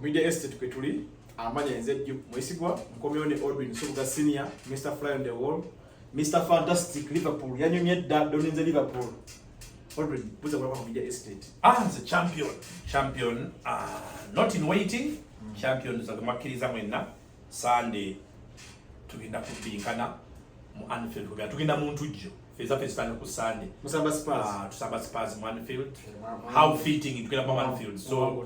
Media Estate kwe tuli amanya enze jju mwesigwa nkomyewo ne Odwin Subuga Senior, Mr Fly on the Wall, Mr Fantastic Liverpool yanyumye dda doninze Liverpool. Odwin buza kulaba ku Media Estate. Ah, the champion. Champion uh, not in waiting. Mm. Champion zagamakkiriza mwenna Sunday tugenda kubinkana mu Anfield kugenda tugenda mu ntujjo feza feza tano kusande musamba spurs ah tusamba spurs mu Anfield eh, how fitting it kila mu Anfield so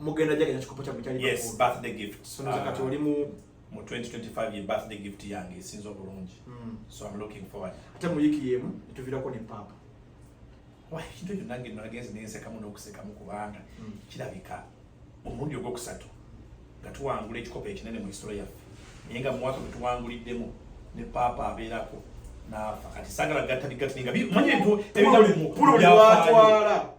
mugenda jaganya kikopo kya mutali yes birthday gift so nazo kati ah. oli mu mu 2025 ye birthday gift yange esinzo bulungi mm. so i'm looking forward ate mu yiki yemu tuvirako ne papa wa kitu kyo nange nagezi nense kamu nokuseka mu kubanga mm. kirabika omulundi ogwokusatu nga tuwangula ekikopo ekinene mu history yaffe naye nga mu mwaka gwe tuwanguliddemu ne papa abeerako naafa kati sagala gatta bigatta ninga manyi ebintu ebintu bya twala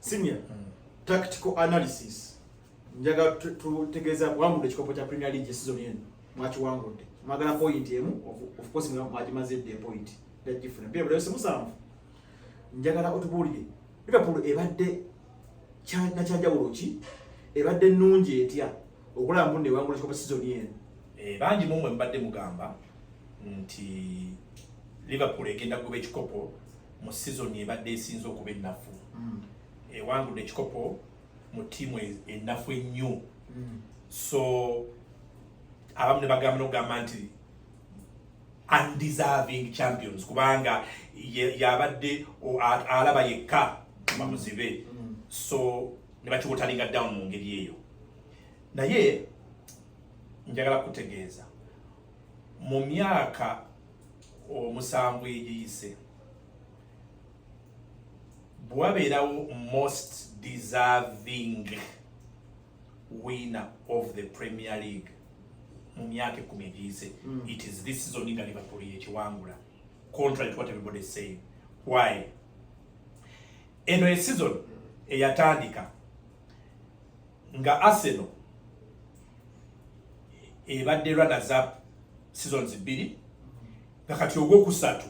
Senior mm. tactical analysis njaga tutegeeza wangudde ekikopo kya Premier League season eno mwakiwangudde mwagala point emu of course mwagimaze dde point yagifuna bye bulayo simusanvu njagala otubuulire Liverpool ebadde nakyanjawulo ki ebadde nnungi etya okulaba mbu newangula ekikopo season eno eh, bangi mumwe mubadde mugamba nti Liverpool egenda kuba ekikopo mu sizoni ebadde esinze okuba ennafu mm. ewangudde ekikopo mu ttiimu e, ennafu ennyo mm. so abamu ne bagamba nokugamba nti undeserving champions kubanga yabadde alaba yekka kuba muzibe mm. so ne bakiwotalinga down mu ngeri eyo naye njagala kutegeeza mu myaka omusanvu egiyise bwabeerawo most deserving winner of the premier league mu myaka ekumi egiyise hmm. it is this season nga liverpool yekiwangula contrary to what everybody is saying why eno eseason eyatandika nga Arsenal ebadde runners up seasons bbiri nga kati ogwokusatu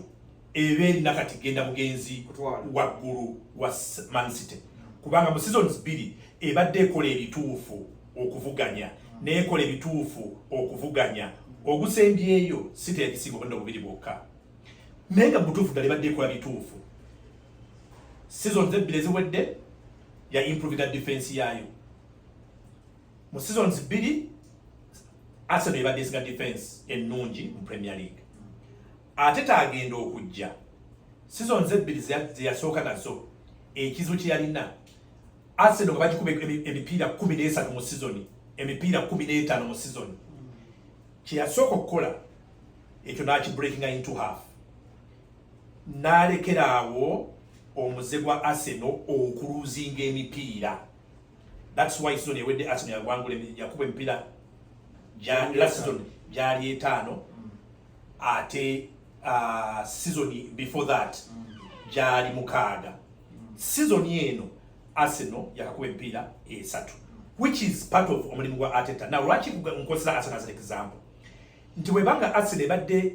eba erina kati genda bugenzi waggulu wa Man City kubanga mu seasons bbiri ebadde ekola ebituufu okuvuganya neekola ebituufu okuvuganya ogusembyeyo site ebisinga obudde obubiri bwokka naye nga butuufu ddala ebadde ekola bituufu sizoni ebbiri eziwedde ya improvinga defense yayo mu seasons bbiri Arsenal ebadde esinga defense ennungi mu Premier League ate tagenda okujja seasons ebbiri zeyasooka nazo ekizibu kyeyalina Arsenal nga bagikuba emipiira kumi n'esatu mu sizoni emipiira kumi n'etaano mu sizoni kyeyasooka okukola ekyo nakibreakinga into half n'alekera awo omuze gwa aseno okuluzinga emipiira thats why sizoni ewedde aseno yagwangula yakuba emipiira lasizon gyali etaano mm. ate uh, sizoni before that mm. gyali mukaaga mm. sizoni eno aseno yakakuba emipiira esatu which is part of omulimu gwa ateta na lwaki nkozesa aseno as an example nti webanga aseno ebadde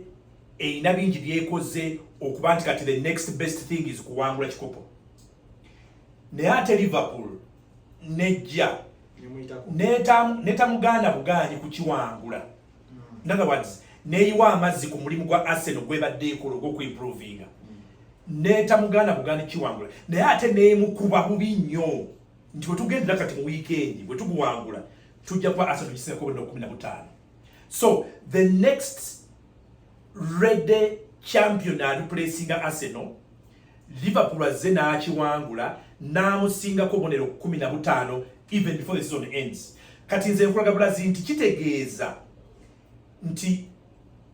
erina bingi byekoze okuba nti kati the next best thing is kuwangula kikopo naye ate liverpool nejja netamugaana bugaanyi kukiwangula hmm. in other words neyiwa amazzi ku mulimu gwa arsenal gwebadde ekola ogwokuimprovinga hmm. netamugaana bugaanyi kiwangula naye ate nemukuba bubi nnyo nti wetugendera kati mu wiikendi wetuguwangula tujja kuba arsenal tukisinga kobona kumi na butaano so the next rede champion alipulesinga arsenal liverpool azze n'akiwangula n'amusingako obonero kumi na butaano even before the season ends kati nze nkulaga bulazi nti kitegeeza nti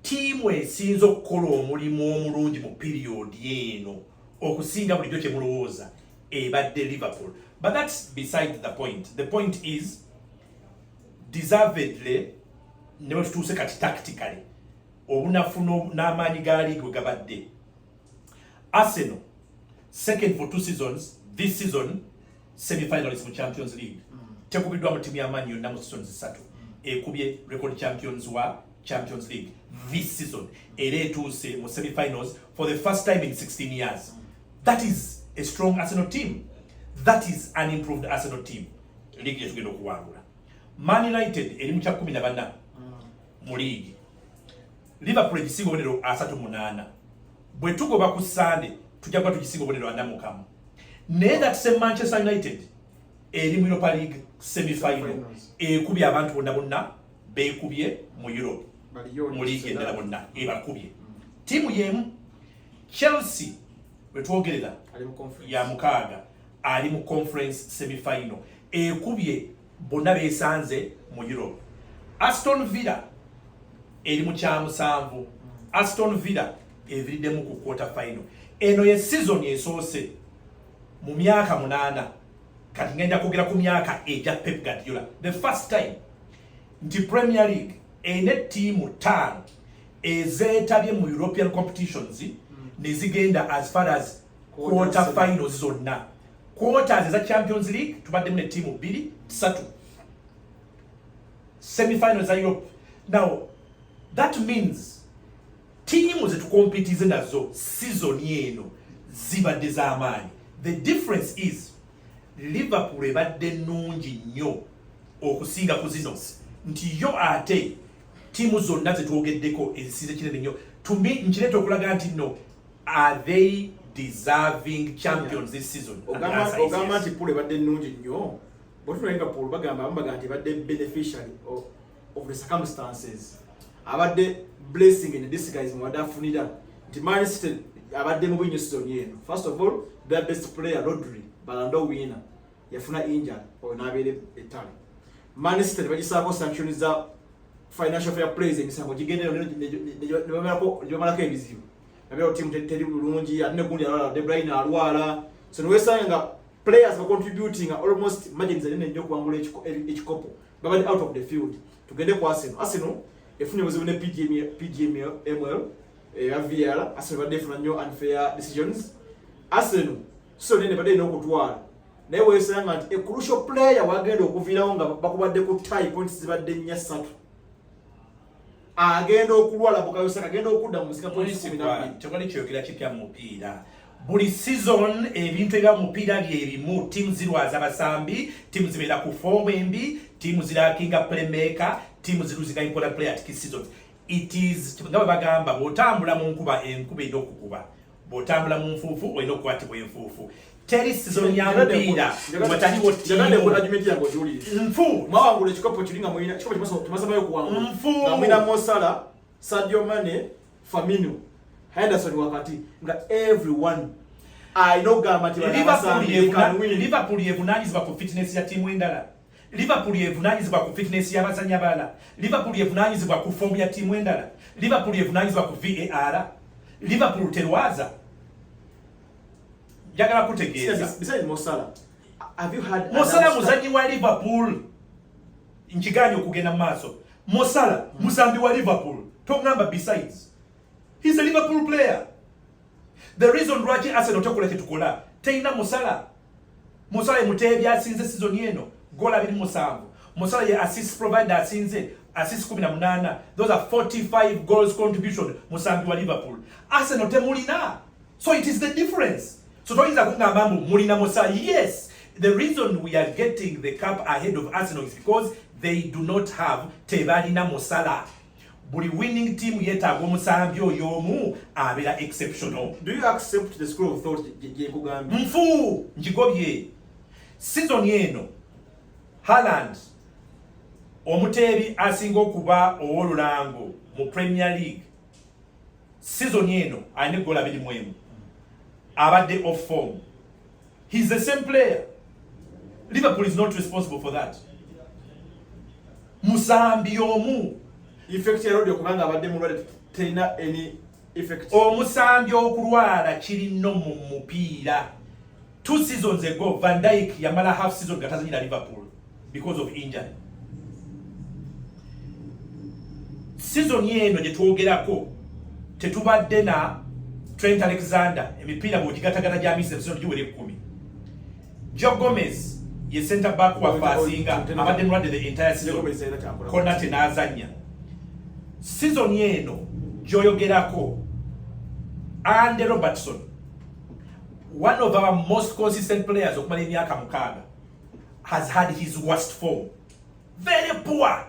tiimu esinza okukola omulimu omulungi mu piriyodi eno okusinga bulijjo kye mulowooza ebadde liverpool but that's beside the point the point is deservedly ne wetutuuse kati tactically obunafu n'amaanyi ga league we gabadde Arsenal second for two seasons this season semifinalist mu champions league mm. tekubiddwa mu timu y'amaanyi yonna mu seasons ssatu mm. ekubye record champions wa champions league this season era etuuse mu semifinals for the first time in 16 years mm. that is a strong arsenal team that is an improved arsenal team liigi gyetugenda okuwangula man united eri mu kya kumi na bana mu liigi liverpool egisinga obonero asatu munaana bwe tugoba ku sande tujja kuba tugisinga obonero ana mukamu naye that same manchester united eri mu europa league semifinal ekubye abantu bonna bonna bekubye mu europe mu liigi endala bonna ebakubye tiimu yemu chelsea wetwogerera ya mukaaga ali mu conference semifinal ekubye bonna besanze mu Europe. Aston Villa eri mu kyamusanvu. Aston Villa eviriddemu ku quarter final. Eno ye season esoose mu myaka munaana kati ngenda kwogera ku myaka egya Pep Guardiola the first time nti Premier League ene ttiimu ttaano ezeetabye mu European competitions hmm. nezigenda as far as quarter final zonna quarters eza champions league tubaddemu ne tiimu bbiri ssatu semifinal za europe now that means tiimu zetukompitize nazo sizoni eno zibadde z'amaanyi the difference is liverpool ebadde nnungi nnyo okusinga ku zino nti yo ate tiimu zonna zetwogeddeko ezisize kinene nnyo tumi nkireeta okulaga nti nno are they deserving champions this season ogamba nti pool ebadde nnungi nnyo bwetunayenga pool bagamba abamu bagamba nti ebadde beneficiary of, of the circumstances abadde blessing in disguise mwabadde afunira nti man city abadde mu bwinyo season eno first of all their best player rodri balando winner yafuna injury oyo nabeera ettale man city tebagisaako sanction za financial fair plays emisango gigendera nebamalako ebizibu nabeera timu teri bulungi ate negundi alwala debrine alwala so niwesanga nga players bacontributing almost margins anene nnyo okuwangula ekikopo babadde out of the field tugende ku arsenal arsenal efunye obuzibu ne pgml eya var arsenal badde efuna nnyo unfair decisions arsenal so nene bade no kutwala naye wesanga nti a crucial player wagenda okuvirawo nga bakubadde ku tie points zibadde nnya ssatu agenda okulwala bukayosaka agenda okudda mu nsika points kumi nabbiri tewali kyogera kipya mu mupiira buli season ebintu ebya mupiira bye bimu tiimu zirwaza basambi tiimu zibeera ku foomu embi tiimu zirakinga playmaker tiimu ziruzinga important player at key seasons it is nga bwe bagamba bw'otambula mu nkuba enkuba erina okukuba bw'otambula mu nfuufu olina okukwatibwa enfuufu teri sizoni ya mupiira wataliwo tiimunfumwawangula ekikopo kiri nga mulina kikopo kimasabayo okuwangula nfu nga mulina mosala sadio mane famino henderson wakati nga everyone alina okugamba nti liverpool yevunanyizibwa ku fitness ya tiimu endala Liverpool yevunaanyizibwa ku fitness y'abazannyi abalala. Liverpool yevunaanyizibwa ku foomu ya ttiimu endala. Liverpool yevunaanyizibwa ku VAR. Liverpool terwaza. Njagala kutegeeza. Mosala muzannyi wa Liverpool. Nkigaanye okugenda mu maaso. Mosala muzambi wa Liverpool. Tongamba besides. He's a Liverpool player. The reason lwaki Arsenal tekola kyetukola teyina musala musala emuteebi asinze sizoni eno gola abiri musanvu musala ye assist provider asinze assist kumi na munaana those are 45 goals contribution musambi wa Liverpool Arsenal temulina so it is the difference so toyinza kungamba mbu mulina musala yes the reason we are getting the cup ahead of Arsenal is because they do not have tebalina musala buli winning team yetaaga omusambi oyo omu abeera exceptional do you accept the school of thought gyekugambye nfu njigobye season eno Haaland omuteebi asinga okuba ow'olulango mu premier league season eno alina eggola biri mu emu abadde off form He is the same player. Liverpool is not responsible for that. Musambi omu effect ya rodio kubanga abadde mulwade tena any effect. Omusambi okulwala kiri no mu mupiira. Two seasons ago Van Dijk yamala half season gatazanyira Liverpool. because of injury season eno gye twogerako tetubadde na Trent Alexander emipiira bwogigatagana gya misa ebisono giwera ekkumi Joe Gomez ye center back wa fasinga abadde mulwadde the entire season kona tenazanya season eno gyoyogerako Andy Robertson one of our most consistent players okumala emyaka mukaaga has had his worst form very poor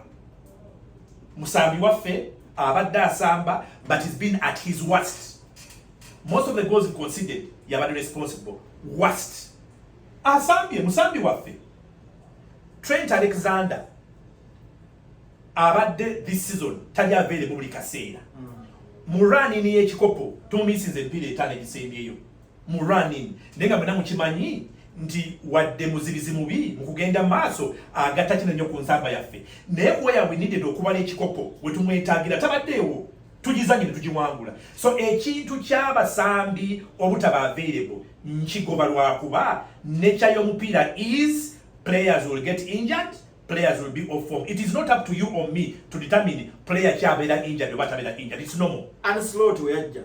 musambi waffe abadde asamba but he's been at his worst most of the goals considered yabadde responsible worst asambye musambi waffe trent alexander abadde this season tali aveere mu buli kaseera mm. mu ranini y'ekikopo tumisinze ebipiira etaano egisembyeyo mu running naye nga mwena mukimanyi nti wadde muzibizi mubi mu kugenda maaso agatta kino nnyo ku nsamba yaffe naye kuwa yabwe nidede okubala ekikopo we tumwetagira tabaddeewo tugizanye ne tugiwangula so ekintu ky'abasambi obutaba available nkigoba lwakuba nature y'omupiira is players will get injured players will be off form. It is not up to you or me to determine player kyabeera injured oba tabeera injured. It's normal. And slow to yajja.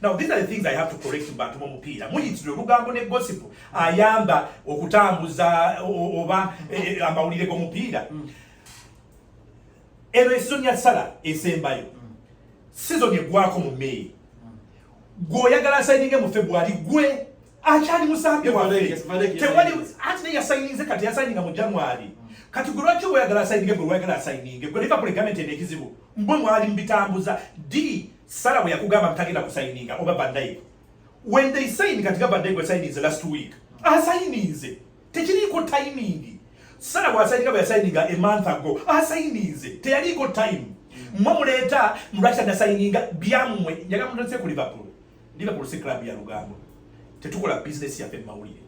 Now these are the things I have to correct to bantu bomupiira muyitire olugambo ne gossip ayamba okutambuza oba e, e, amawulire g'omupiira mm. eno esizoni ya sala esembayo mm. sizoni egwako mu meyi mm. gweoyagala asayininge mu february gwe akyali musambi waffe tewali anti naye yasayininze kati yasayininga mu january kati gwe lwaki oyagala asayininge gwe lwayagala asayininge gwe liverpool egamenti eno ekizibu mbwe mwali mubitambuza d Sala bwe yakugamba mtagenda kusayininga oba bandaye when they sign kati gaba bandaye gwe sayininze last week asayininze tekiriiko timing sala bwasayininga bwe yasayininga a month ago asayininze teyaliiko time mwe muleeta lwaki anasayininga byammwe njaga mutandise ku liverpool liverpool si club ya lugambo tetukola bizinesi yaffe mu mawulire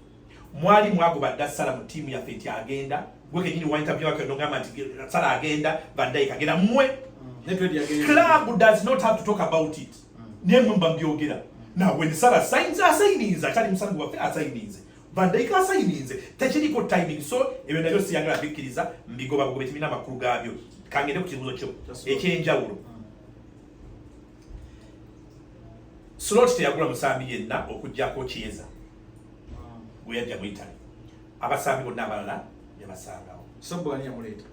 mwali mwagoba dda sala mu tiimu yaffe nti agenda gwe kenyini waintabyewaknogamba nti sala agenda vandaik agenda mwe mm. club does not have to talk about it mm. naye mwe mba mbyogera na when sala signs asayininze akyali musambi waffe asayininze vandaik asayininze tekiriko timing so ebyo nabyo siyagala bikkiriza mbigoba bugobe kimina amakulu gaabyo kangende ku kibuzo kyo ekyenjawulo mm. slot teyagula musambi yenna okujjako kieza we yajja mu Italy abasambi bonna abalala yabasangawo sobo ani yamuleeta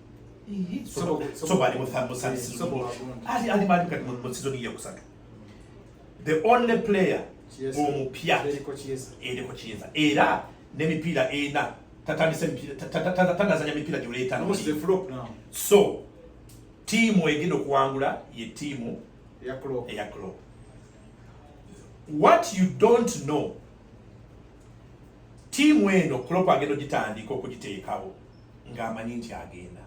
ali mali kati mu sizoni yakusatu the only player omupya eriko kiyeza era n'emipiira ena tatandise tanazanya mipiira gyoleetano so tiimu egenda okuwangula ye tiimu eya clop what you don't know tiimu eno Klopp agenda ogitandika okugiteekawo ng'amanyi nti agenda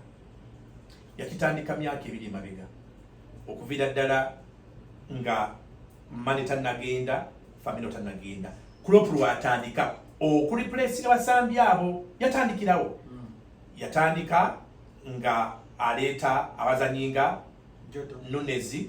yakitandika myaka ebiri emabega okuviira ddala nga mane tannagenda famino tannagenda Klopp lwatandika okulipulesinga basambi abo yatandikirawo hmm. yatandika nga aleeta abazanyi nga nunezi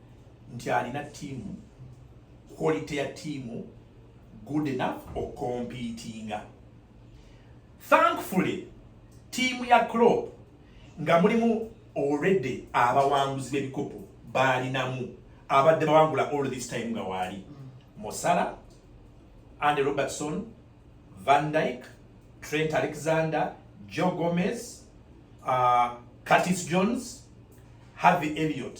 nti alina tiimu quality ya tiimu good enough okompitinga thankfully tiimu ya crop nga mulimu already abawanguzi b'ebikopo baalinamu abadde bawangula all this time nga waali mm. mosala and robertson van dyke trent alexander joe gomez uh, curtis jones harvey elliot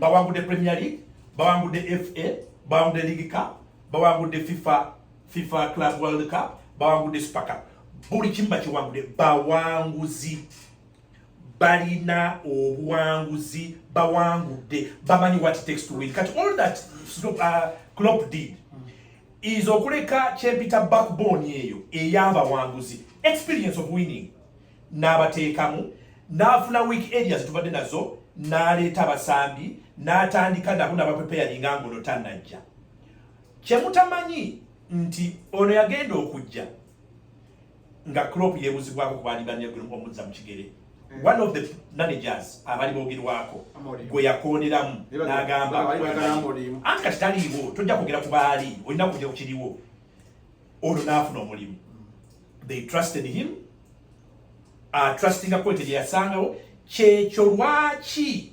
bawangudde premier league bawangudde fa bawangudde league cup bawangudde fifa fifa club world cup bawangudde super cup buli kimu bakiwangudde bawanguzi balina obuwanguzi bawangudde bamanyi what it takes to win kati all that uh, clop did is okuleka kyempita backbone eyo eyabawanguzi experience of winning n'abateekamu n'afuna week area zitubadde nazo n'aleeta abasambi n'atandika nabo nabapepeyalinga ngono tanajja kyemutamanyi nti ono yagenda okujja nga crop yebuzibwako kubaalibanyaomuzza mu kigere mm. one of the managers abali bogerwako gwe yakooneramu n'agamba anti kati taliiwo tojja kwogera ku baali olina kugera ku kiriwo olwo n'afuna omulimu they trusted him uh, trustinga kwete gye yasangawo kyekyo lwaki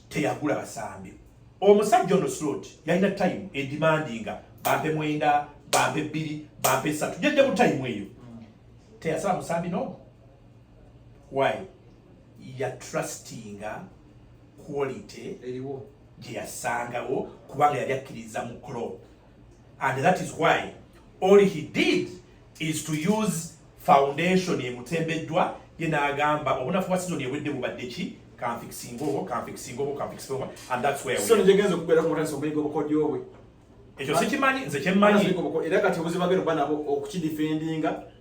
teyagula basambi omusajja ono slot yalina time edimandinga bampe mwenda bampe bbiri bampe esatu jedde mu time eyo teyasaba musambi no why ya trustinga quality gye yasangawo kubanga yali akkiriza mu clop and that is why all he did is to use foundation emutembeddwa ye n'agamba obunafu bwa sizoni ewedde bubadde ki kanfikisinga obwo kanfikisinga obwo kanfikisinga obwo and that's where sizoni gyegenza okubeera kumutandisa omuyiga obukodyo bwe ekyo sikimanyi nze kyemmanyi era kati obuzibu agenda okuba nabo okukidifendinga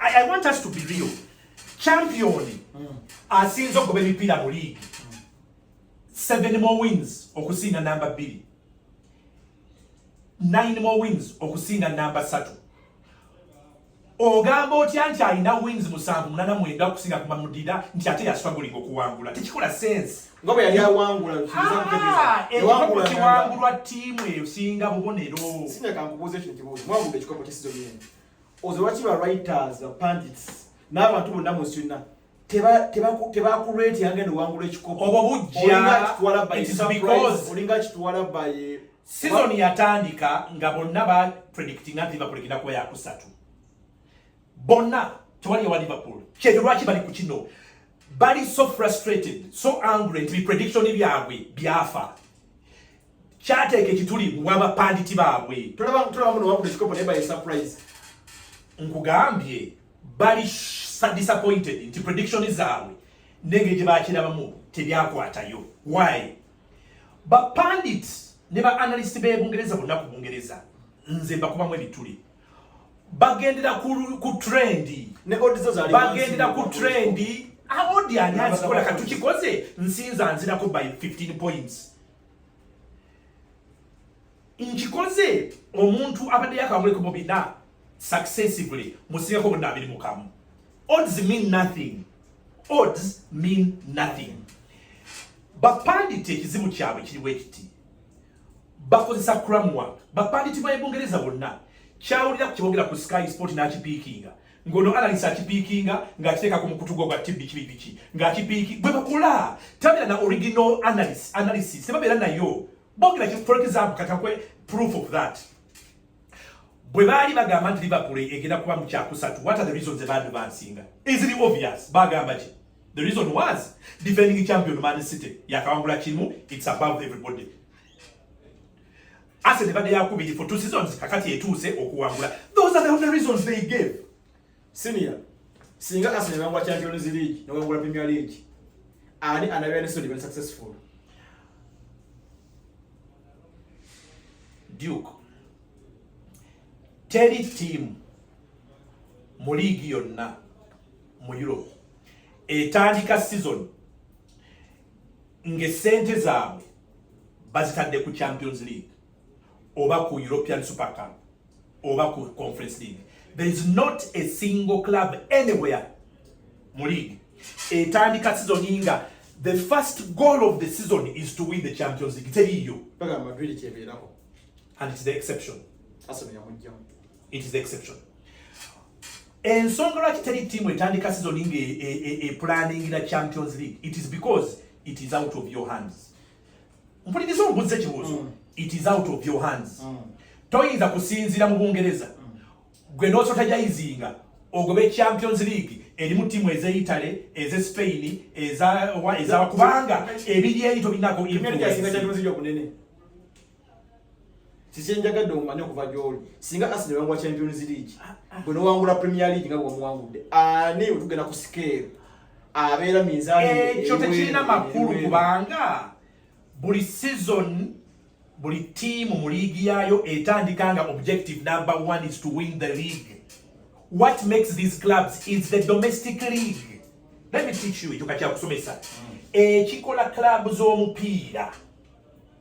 I, I want us to be real. Champion mm. asinze okugoba emipiira mu league mm. seven more wins okusinga namba bbiri nine more wins okusinga namba satu ogamba otya nti alina wins musanvu munana mwenda okusinga kumamudira nti ate yaswagulinga okuwangula tekikola sense nga bwe yali awangula ah, ekikopo kiwangulwa ttiimu esinga bubonero sinakankubuuza ekyo nti mwawude ekikopo kyesizo byenu oze lwaki ba writers ba pandits n'abantu bonna mu nsi yonna tebakureeti yange nowangula ekikopo obwo bujjaolinga kitwala baye sizoni yatandika nga bonna ba predictinga nti liverpool egenda kuba yakusatu bonna tewali ewa liverpool kyekyo lwaki bali ku kino bali so frustrated so angry nti biprediction byabwe byafa kyateeka ekituli wabapanditi baabwe tolaba tolaba muno wakuda ekikopo naye baye surprise nkugambye bali disappointed nti prediction zaabwe nenge gye bakirabamu tebyakwatayo why bapandit ne ba analyst be bungereza bonna ku bungereza nze mbakubamu ebituli bagendera ku, ku trendi bagendera ku trendi aodi ani azikola katukikoze nsinza nzirako by 15 points nkikoze omuntu abadde yakawuleko mu bina successively musingako bonna abiri mukamu odds mean nothing odds mean nothing bapanditi ekizibu kyabwe kiriwo ekiti bakozesa kramwa bapanditi ba ebungereza bonna kyawulira ku kyebogera ku sky sport nakipiikinga ngono analysis akipikinga ngakiteeka ku mukutu gwo gwa tv kibi biki ngakipiki bwe bakula tabira na original analysis analysis tebabeera nayo bogera ki for example katakwe proof of that bwe baali bagamba nti liverpool egenda kuba mu kyakusatu what are the reasons abantu bansinga easily obvious bagamba ki the reason was defending champion man city yakawangula kimu it's above everybody ase ne bade yakubiri for two seasons kakati etuuse okuwangula those are the only reasons they gave senior singa ase ne bangwa champions league ne wangula premier league ani anabya ne so ne successful duke teri team mu league yonna mu europe etandika season ng'essente zaabwe bazitadde ku champions league oba ku european super cup oba ku conference league there is not a single club anywhere mu league etandika sizoni nga the first goal of the season is to win the champions league teriiyo and it's the exception it is the exception ensonga lwaki teri tiimu etandika sizoni nga epulaningira e, e, e champions league it is because it is out of your hands mpuliriza ombuza ekibuuzo mm. it is out of your hands mm. toyinza kusinzira mu bungereza mm. gwe nosota jayizinga ogobe champions league erimu tiimu eze italy eze spain ezakubanga ebiri eri tobinako Sisi njagadde omanya okuva gy'oli singa Arsenal yawangula Champions League ah, ah. gwe n'owangula Premier League nga bwewamuwangudde ani otugenda ku sikeero abeera minzaani ekyo eh, tekirina makulu kubanga buli season buli tiimu mu liigi yaayo etandika nga objective number one is to win the league what makes these clubs is the domestic league let me teach you ekyo kakyakusomesa mm. ekikola club z'omupiira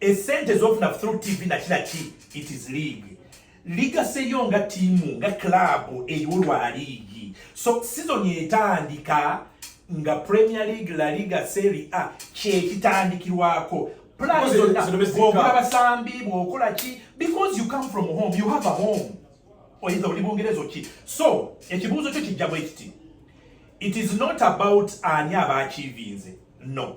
esente zofuna through tv nakira ki it is league ligaseyo nga tiimu nga club eriwo lwa liigi so season etandika nga premier league la liga seri a kyekitandikirwako plan zonna bwokola basambi bwokola ki because you come from home you have a home oyinza oli bungerezo ki so ekibuuzo kyo kijja bwe kiti it is not about ani abaakiivinze no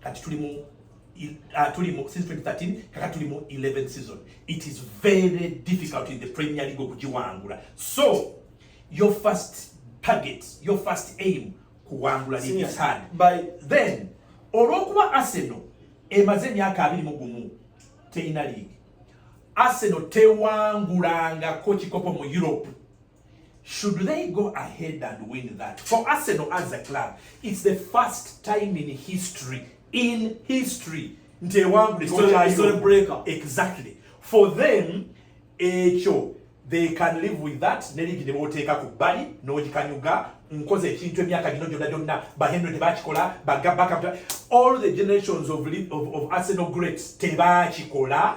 kati tuli mu uh, tuli mu since 2013 kaka tuli mu 11 season it is very difficult in the premier league okugiwangula so your first target your first aim kuwangula ligi third by then olwokuba arsenal emaze emyaka abiri mu gumu teyina league arsenal tewangulangako kikopo mu europe Should they go ahead and win that? For Arsenal as a club, it's the first time in history, in history, nti ewangula exactly for them ekyo they can live with that ne ligi ne boteeka ku bbali n'ogikanyuga nkoze ekintu emyaka gino gyonna gyonna bahenry tebakikola bagabaka all the generations of, of, of arsenal greats tebakikola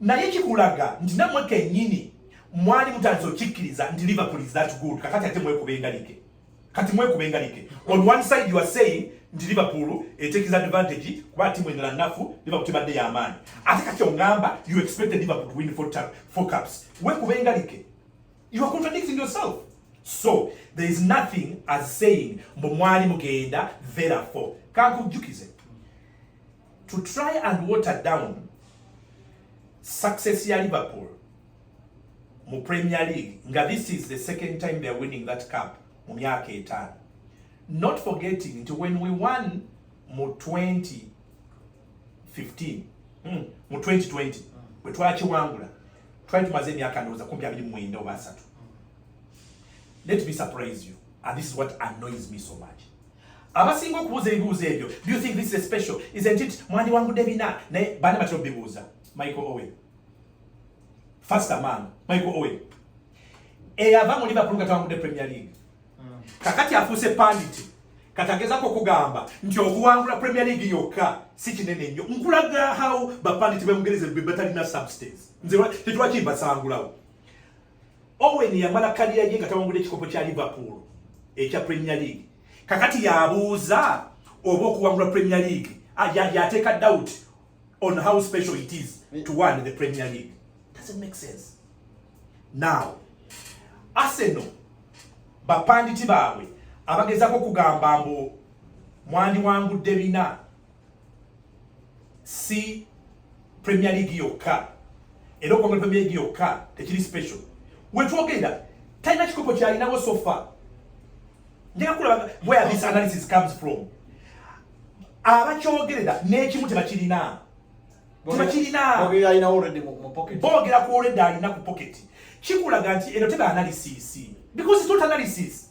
naye kikulaga nti namwe kenyini mwali mutandise okikkiriza nti liverpool is that good kakati ate mwekuba engalike kati mwekuba engalike on one side you are saying nti liverpool etekiza advantage kuba timu endala nafu liverpool tebadde yamaanyi ate kati ongamba you expected liverpool to win four, tap, four cups wekuba engalike you are contradicting yourself so there is nothing as saying mbu mwali mugenda therefore kankujjukize to try and water down success ya Liverpool mu Premier League nga this is the second time they are winning that cup mu myaka etaano not forgetting nti when we won mu 2015 hmm, mu 2020 bwe twakiwangula twali tumaze emyaka ndowooza kumpi abiri mwenda oba asatu let me surprise you and this is what annoys me so much abasinga okubuuza ebibuuzo ebyo do you think this is a special isn't it mwandiwangudde bina naye bana batera obibuuza michael owen first man michael owen eyava mu liverpool nga tawangudde premier league hmm. kakati afuuse panditi katagezako okugamba nti okuwangula premier league yokka si kinene nnyo nkulaga how bapanditi bemugereze bebatalina substance nze tetwakibasangulawo Owen yamala kaliya ye nga tawangudde ekikopo kya Liverpool ekya Premier League. Kakati yabuuza oba okuwangula Premier League ah, yateeka doubt on how special it is to win the Premier League. Doesn't make sense. Now, Arsenal bapanditi baabwe abagezako okugamba mbu mwandiwangudde bina si premier league yokka era okuva muri premier league yokka tekiri special wetwogenda talina kikopo kyalinawo sofa njega kulaba where this analysis comes from abakyogerera n'ekimu tebakirina tebakirina boogera ku olredde alina ku pocket kikulaga nti eno teba analysis because it's not analysis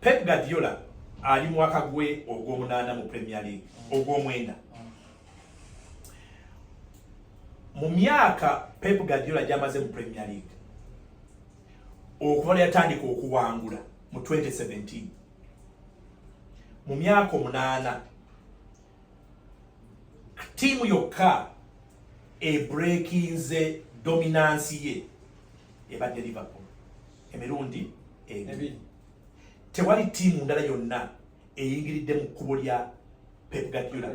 Pep Guardiola ali mwaka gwe ogw'omunaana mu Premier League ogw'omwenda mu myaka Pep Guardiola gy'amaze mu Premier League okuva lwe yatandika okuwangula mu 2017 mu myaka omunaana ttiimu yokka ebrekinze dominansi ye ebadde Liverpool emirundi ebiri. Tewali tiimu ndala yonna eyingiridde mu kkubo lya Pep Guardiola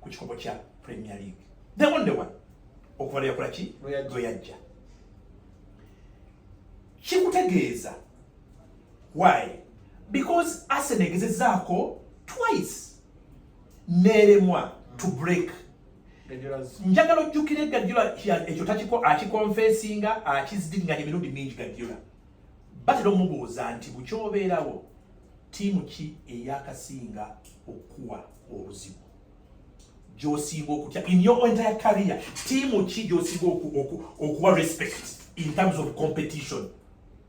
ku kikopo kya Premier League. The only one okuva lwe yakola ki lwe yajja kikutegeeza why because Arsenal egezezaako twice neeremwa to break njagala ojjukire gajula ekyo takiko akikonfesinga akizidiringanya emirundi mingi gajula batera omubuuza nti bukyobeerawo tiimu ki eyakasinga okuwa obuzibu gyosinga okutya in your entire career tiimu ki gyosinga okuwa respect in terms of competition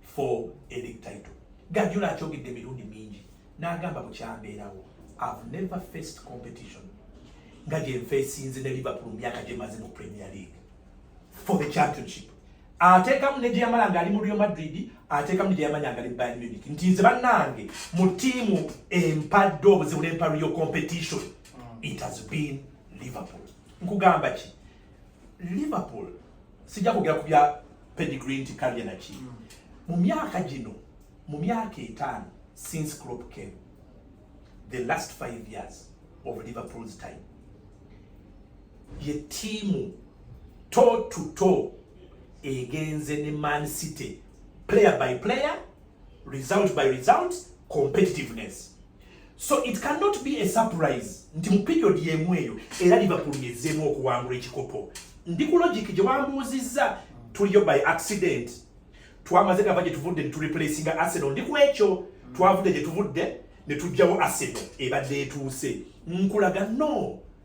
for a league title gajula akyogedde emirundi mingi n'agamba bukyambeerawo I've never faced competition nga gye nfeesinze ne Liverpool mu myaka gye maze mu Premier League for the championship ateekamu ne gyeyamala ng'ali mu Real Madrid ateekamu ne gyeyamanya ng'ali Bayern Munich nti nze bannange mu ttiimu empadde obuzibu n'empa real competition it has been Liverpool nkugamba ki Liverpool sijja kwogera ku bya pedigree nti kalya naki mm. mu myaka gino mu myaka etaano since Klopp came the last five years of Liverpool's time ye tiimu toe to toe egenze ne Man City player by player result by result competitiveness so it cannot be a surprise nti mu period yemu eyo era liverpool yezeemu okuwangula ekikopo ndi ku logic gye wambuuzizza tuliyo by accident twamaze gava gye tuvudde netureplacinga arsenal ndi ku ekyo twavudde gye tuvudde ne tujjawo arsenal ebadde etuuse nkulaga no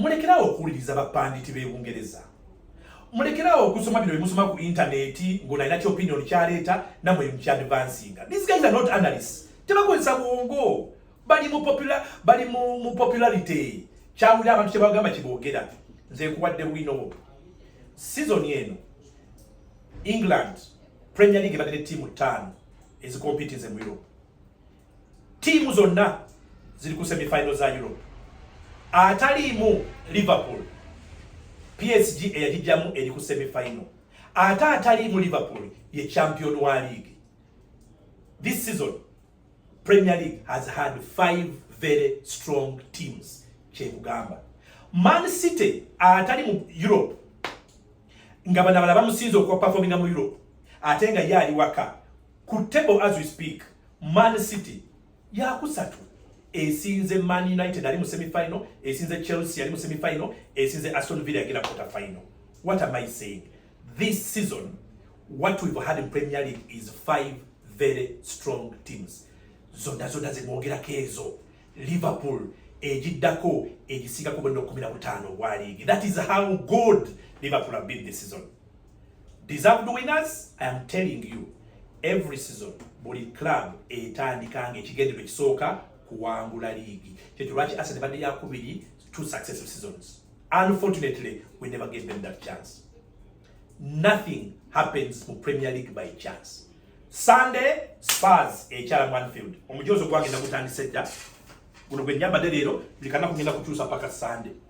mulekerawo okuwuliriza bapanditi b'e bungereza mulekerawo okusoma bino bimusoma ku intaneti ng'onalina ki opinion kyaleeta namwe mukyadvansinga these guys are not analysts tebakozesa bwongo bali mu popular bali mu, mu popularity kyawulira abantu kyebagamba kiboogera nze nkuwadde bwino obu sizoni eno england premier league ebadde ne tiimu ttaano ezikompitinze mu europe Tiimu zonna ziri ku semifinal za Europe. Ataliimu Liverpool, PSG eyagijjamu eri ku semifinal. Ate ataliimu Liverpool ye champion wa league. This season Premier League has had five very strong teams kyekugamba Man City atali mu Europe nga bana bala bamusinze okuwa performinga mu Europe ate nga yali waka ku table as we speak man city yakusatu esinze man united ali mu semifinal esinze chelsea ali mu semifinal esinze aston villa yagenda quarter final what am i saying this season what we've had in premier league is five very strong teams zonna zonna zemwogerako ezo liverpool egiddako egisingako bwenna okumi na butaano obwa liigi that is how good liverpool have been this season Deserved winners, I am telling you every season buli club etandika nga ekigendero ekisooka kuwangula liigi kyekyo lwaki Arsenal badde yakubiri two successive seasons unfortunately we never gave them that chance nothing happens mu Premier League by chance Sunday Spurs ekyala mu Anfield omujoozi ogwagenda gutandise dda guno gwe nyambadde leero buli kanaku ngenda kukyusa paka Sunday